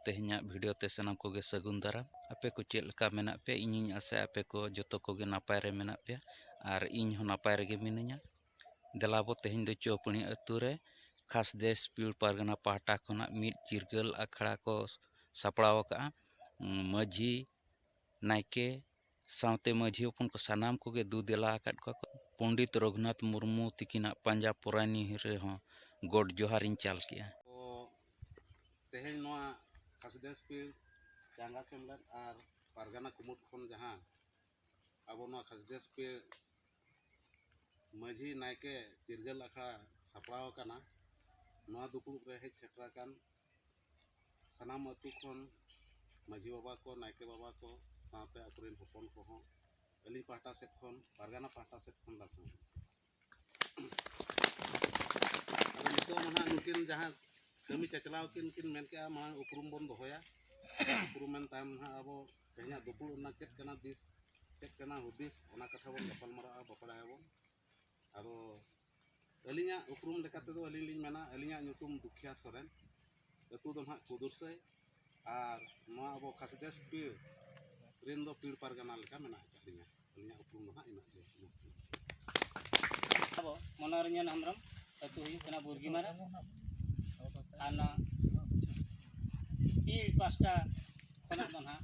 ᱛᱮᱦᱮᱧᱟᱜ ᱵᱷᱤᱰᱤᱭᱳ ᱛᱮ ᱥᱟᱱᱟᱢ ᱠᱚᱜᱮ ᱥᱟᱹᱜᱩᱱ ᱫᱟᱨᱟᱢ ᱟᱯᱮ ᱠᱚ ᱪᱮᱫ ᱞᱮᱠᱟ ᱢᱮᱱᱟᱜ ᱯᱮᱭᱟ ᱤᱧᱤᱧ ᱟᱥᱟᱭᱟ ᱟᱯᱮ ᱠᱚ ᱡᱚᱛᱚ ᱠᱚᱜᱮ ᱱᱟᱯᱟᱭ ᱨᱮ ᱢᱮᱱᱟᱜ ᱯᱮᱭᱟ ᱟᱨ ᱤᱧ ᱦᱚᱸ ᱱᱟᱯᱟᱭ ᱨᱮᱜᱮ ᱢᱤᱱᱟᱹᱧᱟ ᱫᱮᱞᱟᱵᱚ ᱛᱮᱦᱮᱧ ᱫᱚ ᱪᱚᱯᱟᱹᱱᱤ ᱟᱹᱛᱩ ᱨᱮ ᱠᱷᱟᱥ ᱫᱮᱥ ᱯᱤᱲ ᱯᱟᱨᱜᱟᱱᱟ ᱯᱟᱦᱴᱟ ᱠᱷᱚᱱᱟᱜ ᱢᱤᱫ ᱪᱤᱨᱜᱟᱹᱞ ᱟᱠᱷᱲᱟ ᱠᱚ ᱥᱟᱯᱲᱟᱣ ᱟᱠᱟᱫᱼᱟ ᱢᱟᱹᱡᱷᱤ ᱱᱟᱭᱠᱮ ᱥᱟᱶᱛᱮ ᱢᱟᱹᱡᱷᱤ ᱦᱚᱯᱚᱱ ᱠᱚ ᱥᱟᱱᱟᱢ ᱠᱚᱜᱮ ᱫᱩ ᱫᱮᱞᱟ ᱟᱠᱟᱫ ᱠᱚᱣᱟ ᱠᱚ ᱯᱚᱱᱰᱤᱛ ᱨᱚᱜᱷᱩᱱᱟᱛᱷ ᱢᱩᱨᱢᱩ ᱛᱤᱠᱤᱱᱟᱜ ᱯᱟᱸᱡᱟ ᱯᱚᱨᱟᱭᱱᱤ ᱨᱮᱦᱚᱸ ᱜᱚᱰ ᱡᱚᱦᱟᱨ ᱤᱧ ᱪᱟᱞ ᱠᱮᱫᱼᱟ ᱛᱮᱦᱮᱧ ᱱᱚᱣᱟ ᱠᱷᱟᱥᱤᱫᱮᱥ ᱯᱤᱲ ᱪᱟᱸᱜᱟ ᱥᱮᱢᱞᱮᱫ ᱟᱨ ᱯᱟᱨᱜᱟᱱᱟ ᱠᱩᱢᱩᱴ ᱠᱷᱚᱱ ᱡᱟᱦᱟᱸ ᱟᱵᱚ ᱱᱚᱣᱟ ᱠᱷᱟᱥᱤᱫᱮᱥ ᱯᱤᱲ ᱢᱟᱹᱡᱷᱤ ᱱᱟᱭᱠᱮ ᱪᱤᱨᱜᱟᱹᱞ ᱟᱠᱷᱲᱟ ᱥᱟᱯᱲᱟᱣ ᱟᱠᱟᱱᱟ ᱱᱚᱣᱟ ᱫᱩᱯᱲᱩᱵ ᱨᱮ ᱦᱮᱡ ᱥᱮᱴᱮᱨ ᱟᱠᱟᱱ ᱥᱟᱱᱟᱢ ᱟᱹᱛᱩ ᱠᱷᱚᱱ ᱢᱟᱹᱡᱷᱤ ᱵᱟᱵᱟ ᱠᱚ ᱱᱟᱭᱠᱮ ᱵᱟᱵᱟ ᱠᱚ ᱥᱟᱶᱛᱮ ᱟᱹᱛᱩ ᱨᱮᱱ ᱦᱚᱯᱚᱱ ᱠᱚᱦᱚᱸ ᱟᱹᱞᱤᱧ ᱯᱟᱦᱴᱟ ᱥᱮᱫ ᱠᱷᱚᱱ ᱯᱟᱨᱜᱟᱱᱟ ᱯᱟᱦᱴᱟ ᱥᱮᱫ ᱠᱷᱚᱱ ᱞᱟᱥᱟᱲᱦᱮᱫ ᱟᱫᱚ ᱱᱤᱛᱚᱜ ᱢᱟ ᱱᱟᱦᱟᱜ ᱱᱩᱠᱤᱱ ᱡᱟᱦᱟᱸ ᱠᱟᱹᱢᱤ ᱪᱟᱪᱞᱟᱣ ᱠᱤᱱ ᱠᱤᱱ ᱢᱮᱱ ᱠᱮᱜᱼᱟ ᱢᱟᱲᱟᱝ ᱩᱯᱨᱩᱢ ᱵᱚᱱ ᱫᱚᱦᱚᱭᱟ ᱩᱯᱨᱩᱢ ᱢᱮᱱ ᱛᱟᱭᱚᱢ ᱱᱟᱦᱟᱜ ᱟᱵᱚ ᱛᱮᱦᱮᱧᱟᱜ ᱫᱩᱯᱩᱲᱩᱵ ᱨᱮᱱᱟᱜ ᱪᱮᱫ ᱠᱟᱱᱟ ᱫᱤᱥ ᱪᱮᱫ ᱠᱟᱱᱟ ᱦᱩᱫᱤᱥ ᱚᱱᱟ ᱠᱟᱛᱷᱟ ᱵᱚᱱ ᱜᱟᱯᱟᱞᱢᱟᱨᱟᱜᱼᱟ ᱵᱟᱯᱲᱟᱭᱟᱵᱚᱱ ᱟᱫᱚ ᱟᱹᱞᱤᱧᱟᱜ ᱩᱯᱨᱩᱢ ᱞᱮᱠᱟ ᱛᱮᱫᱚ ᱟᱹᱞᱤᱧ ᱞᱤᱧ ᱢᱮᱱᱟ ᱟᱹᱞᱤᱧᱟᱜ ᱧᱩᱛᱩᱢ ᱫᱩᱠᱷᱤᱭᱟ ᱥᱚᱨᱮᱱ ᱟᱹᱛᱩ ᱫᱚ ᱱᱟᱦᱟᱜ ᱠᱩᱫᱩᱨᱥᱟᱹᱭ ᱟᱨ ᱱᱚᱣᱟ ᱟᱵᱚ ᱠᱷᱟᱥᱤᱫᱟᱥ ᱯᱤᱲ ᱨᱮᱱ ᱫᱚ ᱯᱤᱲ ᱯᱟᱨᱜᱟᱱᱟ ᱞᱮᱠᱟ ᱢᱮᱱᱟᱜ ᱟᱠᱟᱫ ᱞᱤᱧᱟ ᱟᱹᱞᱤᱧᱟᱜ ᱩᱯᱨᱩᱢ ᱫᱚ ᱱᱟᱦᱟᱜ ᱤᱱᱟᱹᱜ ᱜᱮ ᱟᱵᱚ ᱢᱚᱱᱳᱨᱚᱧᱡᱚᱱ ᱦᱮᱢᱵᱨᱚᱢ ᱟᱹᱛᱩ ᱦᱩᱭᱩᱜ ᱠᱟᱱᱟ ᱵᱩᱨᱜᱤᱢᱟᱨᱟ ᱟᱨ ᱱᱚᱣᱟ ᱯᱤᱲ ᱯᱟᱥᱴᱟ ᱠᱷᱚᱱᱟᱜ ᱫᱚ ᱱᱟᱦᱟᱜ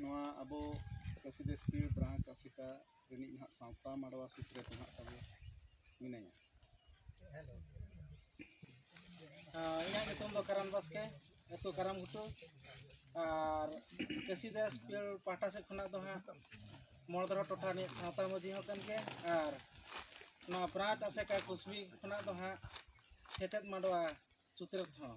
ᱱᱚᱣᱟ ᱟᱵᱚ ᱠᱟᱹᱥᱤ ᱵᱟᱹᱥᱠᱤ ᱵᱨᱟᱧᱪ ᱟᱥᱮᱠᱟ ᱨᱤᱱᱤᱡ ᱱᱟᱦᱟᱜ ᱥᱟᱶᱛᱟ ᱢᱟᱰᱣᱟ ᱥᱩᱛᱨᱮᱛ ᱱᱟᱦᱟᱜ ᱛᱟᱵᱚ ᱢᱮᱱᱟᱭᱟ ᱤᱧᱟᱹᱜ ᱧᱩᱛᱩᱢ ᱫᱚ ᱠᱟᱨᱟᱱ ᱵᱟᱥᱠᱮ ᱟᱹᱛᱩ ᱠᱟᱨᱟᱢ ᱜᱷᱩᱴᱩ ᱟᱨ ᱠᱟᱹᱥᱤ ᱫᱟᱥ ᱯᱤᱭᱚᱞ ᱯᱟᱦᱴᱟ ᱥᱮᱫ ᱠᱷᱚᱱᱟᱜ ᱫᱚ ᱦᱟᱸᱜ ᱢᱚᱲᱫᱚᱨᱟ ᱴᱚᱴᱷᱟ ᱨᱤᱱᱤᱡ ᱥᱟᱶᱛᱟ ᱢᱟᱹᱡᱷᱤ ᱦᱚᱸ ᱠᱟᱱ ᱜᱮᱭᱟ ᱟᱨ ᱱᱚᱣᱟ ᱵᱨᱟᱧᱪ ᱟᱥᱮᱠᱟ ᱠᱩᱥᱵᱤ ᱠᱷᱚᱱᱟᱜ ᱫᱚ ᱦᱟᱸᱜ ᱥᱮᱪᱮᱫ ᱢᱟᱰᱣᱟ ᱥᱩᱛᱨᱮᱛ ᱦᱚᱸ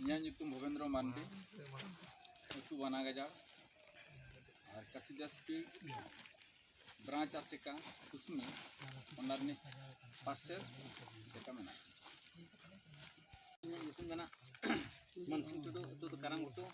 ᱤᱧᱟᱹᱜ ᱧᱩᱛᱩᱢ ᱵᱷᱩᱵᱮᱱᱫᱨᱚ ᱢᱟᱱᱰᱤ ᱟᱹᱛᱩ ᱵᱟᱱᱟ ᱜᱟᱡᱟᱲ ᱟᱨ ᱠᱟᱥᱤᱫᱟᱥᱯᱤ ᱵᱨᱟᱸᱪ ᱟᱥᱮᱠᱟ ᱠᱩᱥᱢᱤ ᱚᱱᱟ ᱨᱤᱱᱤᱡ ᱯᱟᱥᱮ ᱞᱮᱠᱟ ᱢᱮᱱᱟᱜᱼᱟ ᱤᱧᱟᱹᱜ ᱧᱩᱛᱩᱢ ᱠᱟᱱᱟ ᱢᱟᱱᱥᱤᱝ ᱴᱩᱰᱩ ᱟᱹᱛᱩ ᱫᱚ ᱠᱟᱨᱟᱢ ᱜᱷᱩᱴᱩ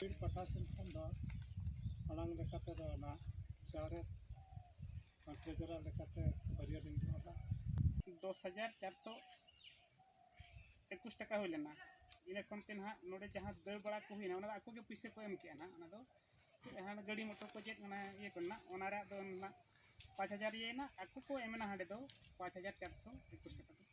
ᱵᱤᱨ ᱯᱟᱦᱴᱟ ᱥᱮᱱ ᱠᱷᱚᱱ ᱫᱚ ᱢᱟᱲᱟᱝ ᱞᱮᱠᱟ ᱛᱮᱫᱚ ᱚᱱᱟ ᱪᱟᱣᱞᱮ ᱯᱟᱴᱷᱮ ᱡᱚᱨᱟ ᱞᱮᱠᱟᱛᱮ ᱵᱟᱹᱨᱭᱟᱹ ᱞᱤᱧ ᱫᱚᱦᱚ ᱞᱮᱫᱼᱟ ᱫᱚᱥ ᱦᱟᱡᱟᱨ ᱪᱟᱨ ᱥᱚ ᱮᱠᱩᱥ ᱴᱟᱠᱟ ᱦᱩᱭ ᱞᱮᱱᱟ ᱤᱱᱟᱹ ᱠᱷᱚᱱ ᱛᱮ ᱱᱟᱦᱟᱜ ᱱᱚᱰᱮ ᱡᱟᱦᱟᱸ ᱫᱟᱹᱲ ᱵᱟᱲᱟ ᱠᱚ ᱦᱩᱭᱱᱟ ᱚᱱᱟ ᱫᱚ ᱟᱠᱚ ᱜᱮ ᱯᱩᱭᱥᱟᱹ ᱠᱚ ᱮᱢ ᱠᱮᱜᱼᱟ ᱱᱟᱦᱟᱜ ᱚᱱᱟ ᱫᱚ ᱡᱟᱦᱟᱸ ᱜᱟᱹᱰᱤ ᱢᱚᱴᱚᱨ ᱠᱚ ᱪᱮᱫ ᱚᱱᱟ ᱤᱭᱟᱹ ᱠᱚ ᱨᱮᱱᱟᱜ ᱚᱱᱟ ᱨᱮᱭᱟᱜ ᱫᱚ ᱱᱟᱦᱟᱜ ᱯᱟᱸᱪ ᱦᱟᱡᱟᱨ ᱤᱭᱟᱹᱭᱮᱱᱟ ᱟᱠᱚ ᱠᱚ ᱮᱢ ᱮᱱᱟ ᱦᱟᱸᱰᱮ ᱫᱚ ᱯᱟᱸᱪ ᱦᱟᱡᱟᱨ ᱪᱟᱨ ᱥᱚ ᱮᱠᱩᱥ ᱴᱟᱠᱟ ᱛᱟᱠᱚ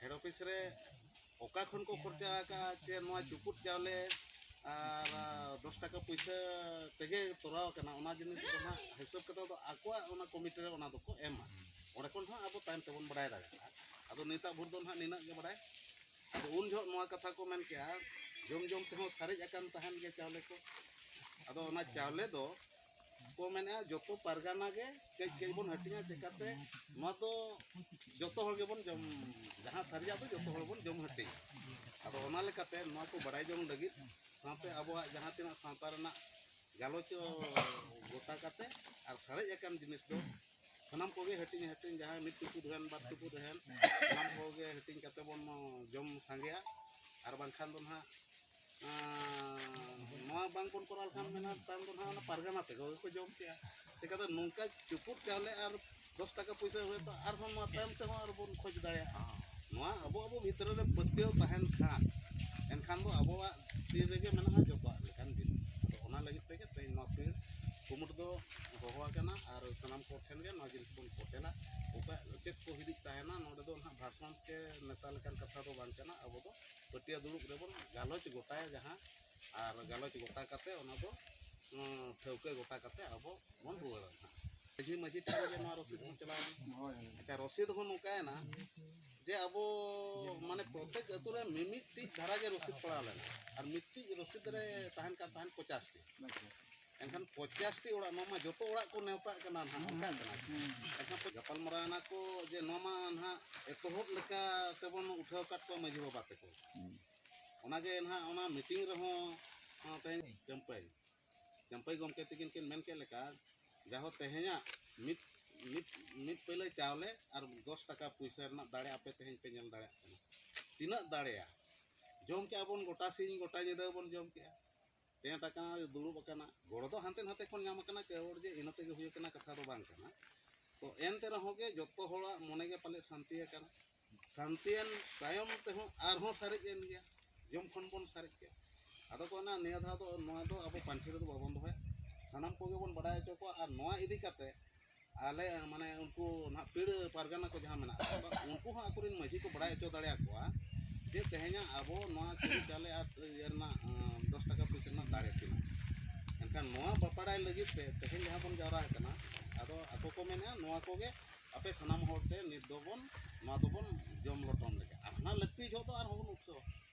ᱦᱮᱰ ᱚᱯᱷᱤᱥ ᱨᱮ ᱚᱠᱟ ᱠᱷᱚᱱ ᱠᱚ ᱠᱷᱚᱨᱪᱟ ᱟᱠᱟᱫᱼᱟ ᱪᱮ ᱱᱚᱣᱟ ᱪᱩᱯᱩᱫ ᱪᱟᱣᱞᱮ ᱟᱨ ᱫᱚᱥ ᱴᱟᱠᱟ ᱯᱩᱭᱥᱟᱹ ᱛᱮᱜᱮ ᱛᱚᱨᱟᱣ ᱟᱠᱟᱱᱟ ᱚᱱᱟ ᱡᱤᱱᱤᱥ ᱫᱚ ᱦᱟᱸᱜ ᱦᱤᱥᱟᱹᱵ ᱠᱟᱛᱮ ᱫᱚ ᱟᱠᱚᱣᱟᱜ ᱚᱱᱟ ᱠᱚᱢᱤᱴᱤ ᱨᱮ ᱚᱱᱟ ᱫᱚᱠᱚ ᱮᱢᱟ ᱚᱸᱰᱮ ᱠᱷᱚᱱ ᱦᱚᱸ ᱟᱵᱚ ᱛᱟᱭᱚᱢ ᱛᱮᱵᱚᱱ ᱵᱟᱲᱟᱭ ᱫᱟᱲᱮᱭᱟᱜᱼᱟ ᱟᱫᱚ ᱱᱤᱛᱟᱜ ᱵᱷᱳᱨ ᱫᱚ ᱦᱟᱸᱜ ᱱᱤᱱᱟᱹᱜ ᱜᱮ ᱵᱟᱲᱟᱭ ᱟᱫᱚ ᱩᱱ ᱡᱚᱦᱚᱜ ᱱᱚᱣᱟ ᱠᱟᱛᱷᱟ ᱠᱚ ᱢᱮᱱ ᱠᱮᱜᱼᱟ ᱡᱚᱢ ᱡᱚᱢ ᱛᱮᱦᱚᱸ ᱥᱟᱨᱮᱡ ᱟᱠᱟᱱ ᱛᱟᱦᱮᱱ ᱜᱮᱭᱟ ᱪᱟᱣᱞᱮ ᱠᱚ ᱟᱫᱚ ᱚᱱᱟ ᱪᱟᱣᱞᱮ ᱫᱚ ᱠᱚ ᱢᱮᱱᱮᱜᱼᱟ ᱡᱚᱛᱚ ᱯᱟᱨᱜᱟᱱᱟ ᱜᱮ ᱠᱟᱹᱡ ᱠᱟᱹᱡ ᱵᱚᱱ ᱦᱟᱹᱴᱤᱧᱟ ᱪᱮᱠᱟᱛᱮ ᱱᱚᱣᱟ ᱫᱚ ᱡᱚᱛᱚ ᱦᱚᱲ ᱜᱮᱵᱚᱱ ᱡᱚᱢ ᱡᱟᱦᱟᱸ ᱥᱟᱹᱨᱤᱭᱟᱜ ᱫᱚ ᱡᱚᱛᱚ ᱦᱚᱲ ᱵᱚᱱ ᱡᱚᱢ ᱦᱟᱹᱴᱤᱧᱟ ᱟᱫᱚ ᱚᱱᱟ ᱞᱮᱠᱟᱛᱮ ᱱᱚᱣᱟ ᱠᱚ ᱵᱟᱲᱟᱭ ᱡᱚᱝ ᱞᱟᱹᱜᱤᱫ ᱥᱟᱶᱛᱮ ᱟᱵᱚᱣᱟᱜ ᱡᱟᱦᱟᱸ ᱛᱤᱱᱟᱹᱜ ᱥᱟᱶᱛᱟ ᱨᱮᱱᱟᱜ ᱜᱟᱞᱚᱪ ᱜᱚᱴᱟ ᱠᱟᱛᱮ ᱟᱨ ᱥᱟᱨᱮᱡ ᱟᱠᱟᱱ ᱡᱤᱱᱤᱥ ᱫᱚ ᱥᱟᱱᱟᱢ ᱠᱚᱜᱮ ᱦᱟᱹᱴᱤᱧ ᱦᱟᱹᱴᱤᱧ ᱡᱟᱦᱟᱸᱭ ᱢᱤᱫ ᱴᱩᱠᱩᱡ ᱨᱮᱱ ᱵᱟᱨ ᱴᱩᱠᱩᱡ ᱨᱮᱱ ᱥᱟᱱᱟᱢ ᱠᱚᱜᱮ ᱦᱟᱹᱴᱤᱧ ᱠᱟᱛᱮ ᱵᱚᱱ ᱡᱚᱢ ᱥᱟᱸᱜᱮᱭᱟ ᱟᱨ ᱵᱟᱝᱠᱷᱟᱱ ᱫᱚ ᱱᱟᱦᱟᱜ ᱱᱚᱣᱟ ᱵᱟᱝᱵᱚᱱ ᱠᱚᱨᱟᱣ ᱞᱮᱠᱷᱟᱱ ᱢᱮᱱᱟ ᱛᱟᱭᱚᱢ ᱫᱚ ᱱᱟᱦᱟᱜ ᱚᱱᱟ ᱯᱟᱨᱜᱟᱱᱟ ᱛᱮᱠᱚ ᱜᱮᱠᱚ ᱡᱚᱢ ᱠᱮᱜᱼᱟ ᱪᱤᱠᱟᱹᱛᱮ ᱱᱚᱝᱠᱟ ᱪᱩᱯᱩᱫ ᱪᱟᱣᱞᱮ ᱟᱨ ᱫᱚᱥ ᱴᱟᱠᱟ ᱯᱩᱭᱥᱟᱹ ᱦᱩᱭᱩᱜ ᱛᱚ ᱟᱨᱦᱚᱸ ᱱᱚᱣᱟ ᱛᱟᱭᱚᱢ ᱛᱮᱦᱚᱸ ᱟᱨ ᱵᱚᱱ ᱠᱷᱚᱡᱽ ᱫᱟᱲᱮᱭᱟᱜᱼᱟ ᱱᱚᱣᱟ ᱟᱵᱚ ᱟᱵᱚ ᱵᱷᱤᱛᱨᱤ ᱨᱮ ᱯᱟᱹᱛᱭᱟᱹᱣ ᱛᱟᱦᱮᱱ ᱠᱷᱟᱱ ᱮᱱᱠᱷᱟᱱ ᱫᱚ ᱟᱵᱚᱣᱟᱜ ᱛᱤ ᱨᱮᱜᱮ ᱢᱮᱱᱟᱜᱼᱟ ᱡᱚᱛᱚᱣᱟᱜ ᱞᱮᱠᱟᱱ ᱡᱤᱱᱤᱥ ᱟᱫᱚ ᱚᱱᱟ ᱞᱟᱹᱜᱤᱫ ᱛᱮᱜᱮ ᱛᱮᱦᱮᱧ ᱱᱚᱣᱟ ᱯᱤᱲ ᱠᱩᱢᱩᱴ ᱫᱚ ᱦᱚᱦᱚ ᱟᱠᱟᱱᱟ ᱟᱨ ᱥᱟᱱᱟᱢ ᱠᱚ ᱴᱷᱮᱱ ᱜᱮ ᱱᱚᱣᱟ ᱡᱤᱱᱤᱥ ᱵᱚᱱ ᱯᱷᱳᱴᱮᱞᱟ ᱚᱠᱟ ᱪᱮᱫ ᱠᱚ ᱦᱤᱫᱤᱡ ᱛᱟᱦᱮᱱᱟ ᱱᱚᱰᱮ ᱫᱚ ᱱᱟᱦᱟᱜ ᱵᱷᱟᱥᱚᱱ ᱛᱮ ᱱᱮᱛᱟ ᱞᱮᱠᱟᱱ ᱠᱟᱛᱷᱟ ᱫᱚ ᱵᱟᱝ ᱠᱟᱱᱟ ᱟᱵᱚ ᱫᱚ ᱯᱟᱹᱴᱭᱟᱹ ᱫᱩᱲᱩᱵ ᱨᱮᱵᱚᱱ ᱜᱟᱞᱚᱪ ᱜᱚᱴᱟᱭᱟ ᱡᱟᱦᱟᱸ ᱟᱨ ᱜᱟᱞᱚᱪ ᱜᱚᱴᱟ ᱠᱟᱛᱮ ᱚᱱᱟ ᱫᱚ ᱴᱷᱟᱹᱣᱠᱟᱹ ᱜᱚᱴᱟ ᱠᱟᱛᱮ ᱟᱵᱚ ᱵᱚᱱ ᱨᱩᱣᱟᱹᱲᱟ ᱦᱟᱸᱜ ᱢᱟᱺᱡᱷᱤ ᱢᱟᱺᱡᱷᱤ ᱴᱷᱮᱱ ᱜᱮ ᱱᱚᱣᱟ ᱨᱚᱥᱤᱫ ᱦᱚᱸ ᱪᱟᱞᱟᱣᱮᱱᱟ ᱟᱪᱪᱷᱟ ᱨᱚᱥᱤᱫ ᱦᱚᱸ ᱱᱚᱝᱠᱟᱭᱮᱱᱟ ᱡᱮ ᱟᱵᱚ ᱢᱟᱱᱮ ᱯᱨᱚᱛᱮᱠ ᱟᱹᱛᱩ ᱨᱮ ᱢᱤᱢᱤᱫᱴᱤᱡ ᱫᱷᱟᱨᱟ ᱜᱮ ᱨᱚᱥᱤᱫ ᱯᱟᱲᱟᱣ ᱞᱮᱱᱟ ᱟᱨ ᱢᱤᱫᱴᱤᱡ ᱨᱚᱥᱤᱫ ᱨᱮ ᱛᱟᱦᱮᱱ ᱠᱟᱱ ᱛᱟᱦᱮᱸᱫ ᱯᱚᱪᱟᱥᱴᱤ ᱮᱱᱠᱷᱟᱱ ᱯᱚᱪᱟᱥᱴᱤ ᱚᱲᱟᱜ ᱱᱚᱣᱟ ᱢᱟ ᱡᱚᱛᱚ ᱚᱲᱟᱜ ᱠᱚ ᱱᱮᱣᱛᱟᱜ ᱠᱟᱱᱟ ᱱᱟᱦᱟᱜ ᱚᱱᱠᱟᱜ ᱠᱟᱱᱟ ᱮᱱᱠᱷᱟᱱ ᱠᱚ ᱜᱟᱯᱟᱞᱢᱟᱨᱟᱣ ᱮᱱᱟ ᱠᱚ ᱡᱮ ᱱᱚᱣᱟ ᱢᱟ ᱱᱟᱦᱟᱜ ᱮᱛᱚᱦᱚᱵ ᱞᱮᱠᱟ ᱛᱮᱵᱚᱱ ᱩᱴᱷᱟᱹᱣ ᱟᱠᱟᱫ ᱠᱚᱣᱟ ᱢᱟᱺᱡᱷᱤ ᱵᱟᱵᱟ ᱛᱮᱠᱚ ᱚᱱᱟᱜᱮ ᱱᱟᱦᱟᱜ ᱚᱱᱟ ᱢᱤᱴᱤᱝ ᱨᱮᱦᱚᱸ ᱦᱚᱸ ᱛᱮᱦᱮᱧ ᱪᱟᱹᱢᱯᱟᱹᱭ ᱪᱟᱹᱢᱯᱟᱹᱭ ᱜᱚᱢᱠᱮ ᱛᱤᱠᱤᱱ ᱠᱤᱱ ᱢᱮᱱ ᱠᱮᱫ ᱞᱮᱠᱟ ᱡᱟᱦᱳ ᱛᱮᱦᱮᱧᱟᱜ ᱢᱤᱫ ᱢᱤᱫ ᱢᱤᱫ ᱯᱟᱹᱭᱞᱟᱹ ᱪᱟᱣᱞᱮ ᱟᱨ ᱫᱚᱥ ᱴᱟᱠᱟ ᱯᱩᱭᱥᱟᱹ ᱨᱮᱱᱟᱜ ᱫᱟᱲᱮ ᱟᱯᱮ ᱛᱮᱦᱮᱧ ᱯᱮ ᱧᱮᱞ ᱫᱟᱲᱮᱭᱟᱜ ᱠᱟᱱᱟ ᱛᱤᱱᱟᱹᱜ ᱫᱟᱲᱮᱭᱟ ᱡᱚᱢ ᱠᱮᱜᱼᱟ ᱵᱚᱱ ᱜᱚᱴᱟ ᱥᱤᱧ ᱜᱚᱴᱟ ᱧᱤᱫᱟᱹ ᱵᱚᱱ ᱡᱚᱢ ᱠᱮᱜᱼᱟ ᱴᱮᱸᱴ ᱟᱠᱟᱱᱟ ᱫᱩᱲᱩᱵ ᱟᱠᱟᱱᱟ ᱜᱚᱲᱚ ᱫᱚ ᱦᱟᱱᱛᱮ ᱱᱟᱛᱮ ᱠᱷᱚᱱ ᱧᱟᱢ ᱟᱠᱟᱱᱟ ᱠᱮ ᱦᱚᱲ ᱡᱮ ᱤᱱᱟᱹ ᱛᱮᱜᱮ ᱦᱩᱭ ᱟᱠᱟᱱᱟ ᱠᱟᱛᱷᱟ ᱫᱚ ᱵᱟᱝ ᱠᱟᱱᱟ ᱛᱚ ᱮᱱᱛᱮ ᱨᱮᱦᱚᱸ ᱜᱮ ᱡᱚᱛᱚ ᱦᱚᱲᱟᱜ ᱢᱚᱱᱮ ᱜᱮ ᱯᱟᱞᱮᱫ ᱥᱟᱱᱛᱤ ᱟᱠᱟᱱᱟ ᱥᱟᱱᱛᱤᱭᱮᱱ ᱛᱟᱭᱚᱢ ᱛᱮᱦᱚᱸ ᱟᱨᱦᱚᱸ ᱥᱟᱨᱮᱡ ᱮᱱ ᱜᱮᱭᱟ ᱡᱚᱢ ᱠᱷᱚᱱ ᱵᱚᱱ ᱥᱟᱨᱮᱡ ᱠᱮᱫ ᱟᱫᱚ ᱠᱚ ᱢᱮᱱᱟ ᱱᱤᱭᱟᱹ ᱫᱷᱟᱣ ᱫᱚ ᱱᱚᱣᱟ ᱫᱚ ᱟᱵᱚ ᱯᱟᱱᱴᱷᱮᱲ ᱫᱚ ᱵᱟᱵᱚᱱ ᱫᱚᱦᱚᱭᱟ ᱥᱟᱱᱟᱢ ᱠᱚᱜᱮ ᱵᱚᱱ ᱵᱟᱰᱟᱭ ᱦᱚᱪᱚ ᱠᱚᱣᱟ ᱟᱨ ᱱᱚᱣᱟ ᱤᱫᱤ ᱠᱟᱛᱮᱫ ᱟᱞᱮ ᱢᱟᱱᱮ ᱩᱱᱠᱩ ᱱᱟᱦᱟᱜ ᱯᱤᱲ ᱯᱟᱨᱜᱟᱱᱟ ᱠᱚ ᱡᱟᱦᱟᱸ ᱢᱮᱱᱟᱜ ᱠᱚᱣᱟ ᱩᱱᱠᱩ ᱦᱚᱸ ᱟᱠᱚ ᱨᱮᱱ ᱢᱟᱺᱡᱷᱤ ᱠᱚ ᱵᱟᱲᱟᱭ ᱦᱚᱪᱚ ᱫᱟᱲᱮᱭᱟᱠᱚᱣᱟ ᱡᱮ ᱛᱮᱦᱮᱧᱟᱜ ᱟᱵᱚ ᱱᱚᱣᱟ ᱪᱟᱹᱞᱮ ᱪᱟᱣᱞᱮ ᱟᱨ ᱤᱭᱟᱹ ᱨᱮᱱᱟᱜ ᱫᱚᱥ ᱴᱟᱠᱟ ᱯᱩᱭᱥᱟᱹ ᱨᱮᱱᱟᱜ ᱫᱟᱲᱮ ᱛᱤᱱᱟᱹᱜ ᱮᱱᱠᱷᱟᱱ ᱱᱚᱣᱟ ᱵᱟᱯᱟᱲᱟᱭ ᱞᱟᱹᱜᱤᱫ ᱛᱮ ᱛᱮᱦᱮᱧ ᱡᱟᱦᱟᱸ ᱵᱚᱱ ᱡᱟᱣᱨᱟ ᱟᱠᱟᱱᱟ ᱟᱫᱚ ᱟᱠᱚ ᱠᱚ ᱢᱮᱱᱮᱜᱼᱟ ᱱᱚᱣᱟ ᱠᱚᱜᱮ ᱟᱯᱮ ᱥᱟᱱᱟᱢ ᱦᱚᱲ ᱛᱮ ᱱᱤᱛ ᱫᱚᱵᱚᱱ ᱱᱚᱣᱟ ᱫᱚᱵᱚᱱ ᱡᱚᱢ ᱞᱚᱴᱚᱢ ᱞᱮᱜᱮ ᱟᱨ ᱦᱟᱱᱟ ᱞᱟᱹᱠᱛᱤ ᱡᱚᱦᱚᱜ ᱫᱚ ᱟᱨᱦᱚᱸ ᱵᱚᱱ ᱩᱴᱷᱟᱹᱣᱟ